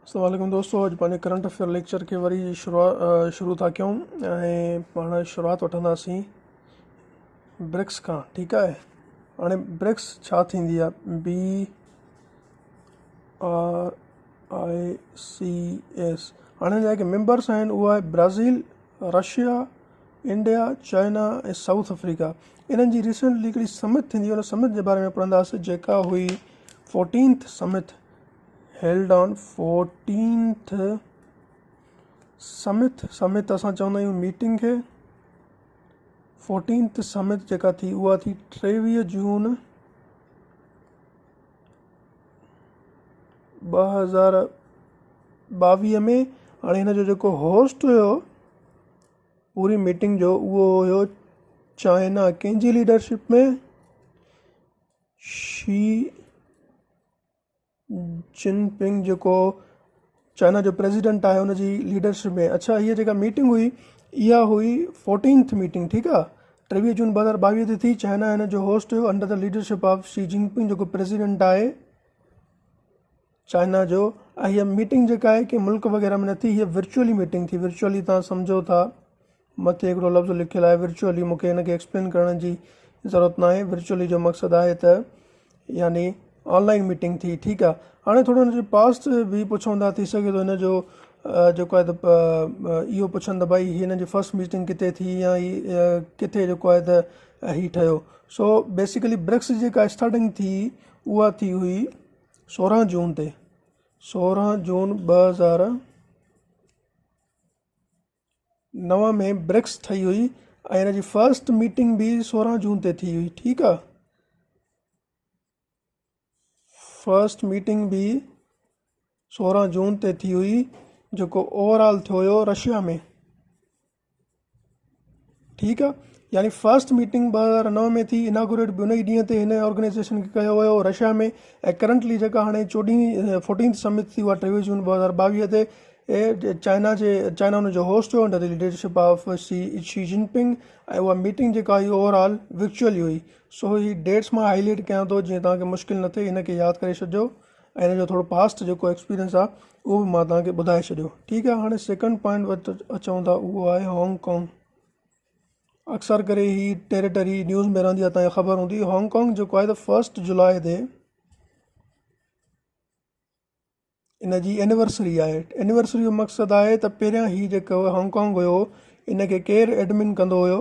السلام عليڪم دوستو اڄ پنهنجي ڪرنٽ افيئر ليڪچر کي وري شروع ٿا ڪيون ۽ پاڻ شروعات وٺنداسين برڪس کان ٺيڪ آهي هاڻي برڪس ڇا ٿيندي آهي B R I C S هاڻي جيڪي ميمبرس آهن اهو آهي Brazil Russia India, China ۽ South Africa انهن جي ريسينٽلي هڪڙي سمٽ ٿيندي ان سمٽ جي باري ۾ پڙهنداسين جيڪا هئي fourteenth summit held on fourteenth summit summit اسان چوندا آهيون ميٽنگ کي فورٽينٿ سمٽ جيڪا ٿي اها ٿي ٽيويهه جون ٻه هزار ٻاويهه ۾ هاڻي هن جو جيڪو هوسٽ هيو پوري ميٽنگ جو اهو هيو چائنا ڪنهن جي ليڊرشپ ۾ شي جن پنگ جيڪو چائنا جو پريزيڊنٽ آهي ان جي ليڊرشپ ۾ اڇا هي جيڪا ميٽنگ هئي اها هئي فورٽينٿ ميٽنگ ٺيڪ آهي ٽيويهه جون ٻه هزار ٻاويهه تي ٿي چائنا هن جو هوسٽ هيو under the leadership of Xi Jinping جيڪو پريزيڊنٽ آهي چائنا جو ۽ هيء ميٽنگ جيڪا آهي ڪنهن ملڪ وغيره ۾ نه ٿي هيء ورچوئلي ميٽنگ ٿي ورچوئلي تان سمجهو ٿا مٿي هڪڙو لفظ لکيل آهي ورچوئلي مون کي ان کي ايڪسپلين ڪرڻ جي ضرورت ناهي ورچوئلي جو مقصد آهي ته يعني آنلائن ميٽنگ ٿي ٺيڪ آهي هاڻي ٿورو هن جو پاسٽ به پڇون ٿا ٿي سگهي ٿو هن جو جيڪو آهي ته اهو پڇن ته ڀائي هن جي فرسٽ ميٽنگ ڪٿي ٿي يا هي ڪٿي جيڪو آهي ته هي ٺهيو سو بيسيڪلي برڪس جيڪا اسٽارٽنگ ٿي اها ٿي هئي سورهن جون تي سورهن جون ٻه هزار نو ۾ برڪس ٺهي هئي ۽ هن جي فرسٽ ميٽنگ به سورهن جون تي ٿي هئي ٺيڪ آ فرسٽ ميٽنگ به سورهن جون تي ٿي هئي جيڪو اوور آل ٿيو هيو رشيا ۾ ٺيڪ آ يعني فرسٽ ميٽنگ ٻه هزار نو ۾ ٿي اناگوريٽ به ان ئي ڏينهن تي هن آرگنائزيشن کي ڪيو ويو رشيا ۾ ۽ ڪرنٽلي جيڪا هاڻي چوڏهين فورٽينٿ سمٿ ٿي اها ٽيويهه جون ٻه هزار ٻاويهه تي چائنا جي چائنا ان جو هوسٽ هو under the leadership of Xi Xi Jinping ۽ اها ميٽنگ جيڪا هئي اوور آل ورچوئل هئي سو هي ڊيٽس مان هائلائٽ ڪيان ٿو جيئن تهان کي مشڪل نه ٿئي هن کي ياد ڪري ڇڏجو ۽ ان جو ٿورو پاسٽ جيڪو ايڪسپيرينس آ اهو به مان تهانکي ٻڌائي ڇڏيو ٺيڪ آ هاڻي سيڪنڊ پوائنٽ وٽ اچون ٿا اهو آهي هانگ ڪانگ اڪثر ڪري هي ٽيريٽري نيوز ۾ رهندي آ تهانکي خبر هوندي هانگ ڪانگ جيڪو آهي ته فرسٽ جولاء تي ان جي اينورسري آهي اينورسري جو مقصد آهي ته پهريان هي جيڪو هانگ ڪانگ هيو ان کي ڪير ايڊمن ڪندو هيو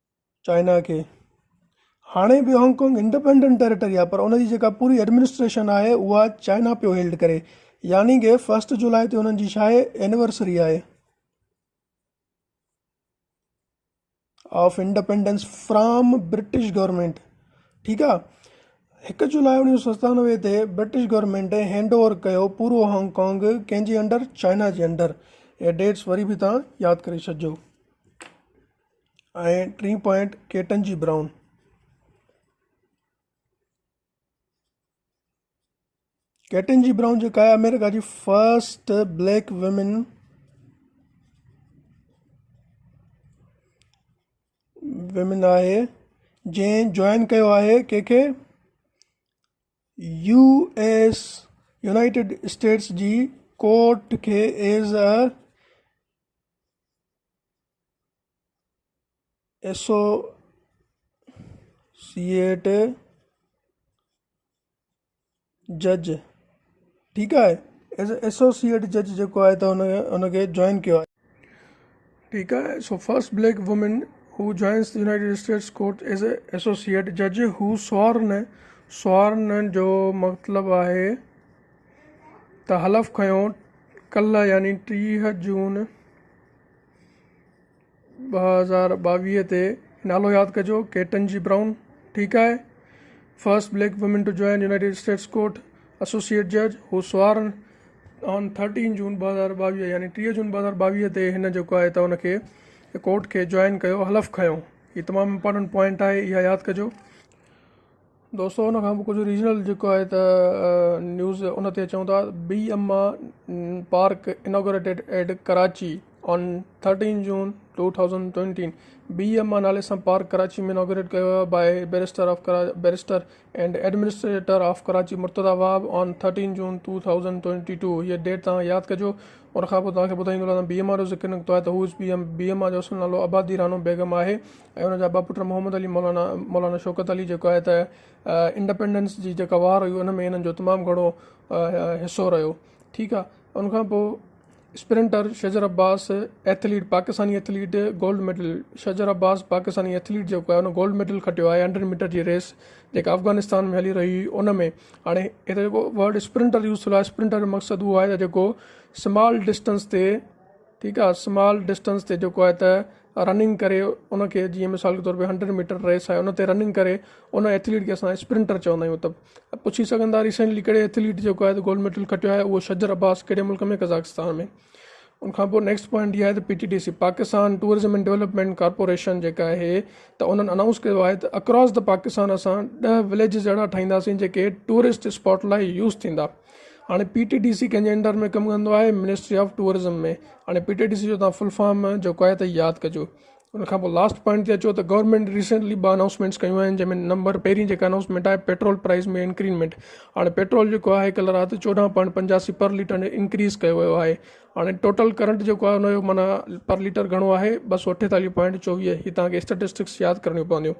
چائنا کي هاڻي به هانگ ڪانگ انڊپينڊنٽ ٽيريٽري آهي پر ان جي جيڪا پوري ايڊمنسٽريشن آهي اها چائنا پيو هيلڊ ڪري يعني ڪي فسٽ جولاء تي انهن جي شاهي اينيورسري آهي of independence from British government ٺيڪ آهي هڪ جولاء اڻويهه سو ستانوي تي برٽش گورنمنٽ هينڊ اوور ڪيو پورو هانگ ڪانگ ڪنهن جي انڊر چائنا جي انڊر اهي ڊيٽس وري به تان ياد ڪري ڇڏجو ۽ ٽين پوائنٽ ڪيٽن جي برائون. ڪيٽن جي برائون جيڪا آهي آمريڪا جي فرسٽ بليڪ ويمن ويمن آهي جنهن جوائن ڪيو آهي ڪنهن کي يو ايس يونائيٽيڊ اسٽيٽس جي ڪورٽ کي ايز اي ايسوسيئيٽ جج ٺيڪ آهي ايسوسيئيٽ جج جيڪو آهي ته هن هن کي جوائن ڪيو آهي ٺيڪ آهي so first black women who joins the United States court as a associate جج هو سوارن سوارن جو مطلب آهي ته حلف کنيو ڪلهه يعني ٽيهه جون ٻه هزار ٻاويهه تي نالو ياد ڪجو ڪيٽن جي برائون ٺيڪ آهي first black women to join United States court associate جج هو سوار آن 13 جون 2022 يعني 30 جون 2022 تي هن جيڪو آهي ته ان کي ڪورٽ کي جوائن ڪيو حلف کنيو هي تمام امپورٽنٽ پوائنٽ آهي اها ياد ڪجو دوستو ان کان به ڪجهه ريجنل جيڪو آهي ته نيوز ان تي اچون ٿا B M A park inaugurated at Karachi on 13 June 2020 B M A نالي سان پارڪ ڪراچي ۾ انوگريٽ ڪيو ويو by barrister of barrister and administrator of Karachi Murtaza Wahab on 13 June 2022 هيء ڊيٽ توهان ياد ڪجو ان کان پوء توهان کي ٻڌائيندو رهندم بي ايم آ جو ذڪر نڪتو آهي ته هو بي ايم آ جو اصل نالو آبادي رانو بيگم آهي ۽ ان جا ٻه پٽ محمد علي مولانا مولانا شوڪت علي جيڪو آهي ته انڊپينڊنس جي جيڪا وار هئي ان ۾ انهن جو تمام گهڻو حصو رهيو ٺيڪ آهي ان کان پوء sprinter Shajar Abbas athlete Pakistani athlete gold medal Shajar Abbas Pakistani athlete جيڪو آهي ان گولڊ ميڊل کٽيو آهي هنڊريڊ ميٽر جي ريس جيڪا افغانستان ۾ هلي رهي هئي ان ۾ هاڻي هتي جيڪو ورڊ اسپرنٽر يوز ٿيو آهي اسپرنٽر جو مقصد اهو آهي ته جيڪو سمال ڊسٽنس تي ٺيڪ آ سمال ڊسٽنس تي جيڪو آهي ته رننگ ڪري ان کي جيئن مثال جي طور تي هنڊريڊ ميٽر ريس آهي ان تي رننگ ڪري ان ايٿليٽ کي اسان اسپرنٽر چوندا آهيون ته پڇي سگهن ٿا ريسينٽلي ڪهڙي ايٿليٽ جيڪو آهي گولڊ ميڊل کٽيو آهي اهو شجر عباس ڪهڙي ملڪ ۾ قزاقستان ۾ ان کان پوء نيڪسٽ پوائنٽ هي آهي ته P T D C Pakistan tourism and development corporation جيڪا آهي ته انهن اناؤنس ڪيو آهي ته اڪراس د پاڪستان اسان ڏهه وليجز اهڙا ٺاهينداسين جيڪي ٽوئرسٽ اسپاٽ لاء يوز ٿيندا هاڻي پي ٽي ڊي سي ڪنهنجي انڊر ۾ ڪم ڪندو آهي منسٽري آف ٽوئرزم ۾ هاڻي پي ٽي ڊي سي جو تان فل فارم جيڪو آهي ته ياد ڪجو ان کان پوء لاسٽ پوائنٽ تي اچو ته گورنمنٽ ريسنٽلي ٻه اناؤسمينٽس ڪيون آهن جنهن ۾ نمبر پهرين جيڪا اناؤسمينٽ آهي پيٽرول پرائز ۾ انڪريمينٽ هاڻي پيٽرول جيڪو آهي ڪل رات چوڏهن پوائنٽ پنجاسي پر ليٽر انڪريز ڪيو ويو آهي هاڻي ٽوٽل ڪرنٽ جيڪو آهي هنجو معنيٰ پر ليٽر گهڻو آهي ٻه سو اٺيتاليهه پوائنٽ چوويهه هي تان کي اسٽيٽسٽڪس ياد ڪرڻيون پونديون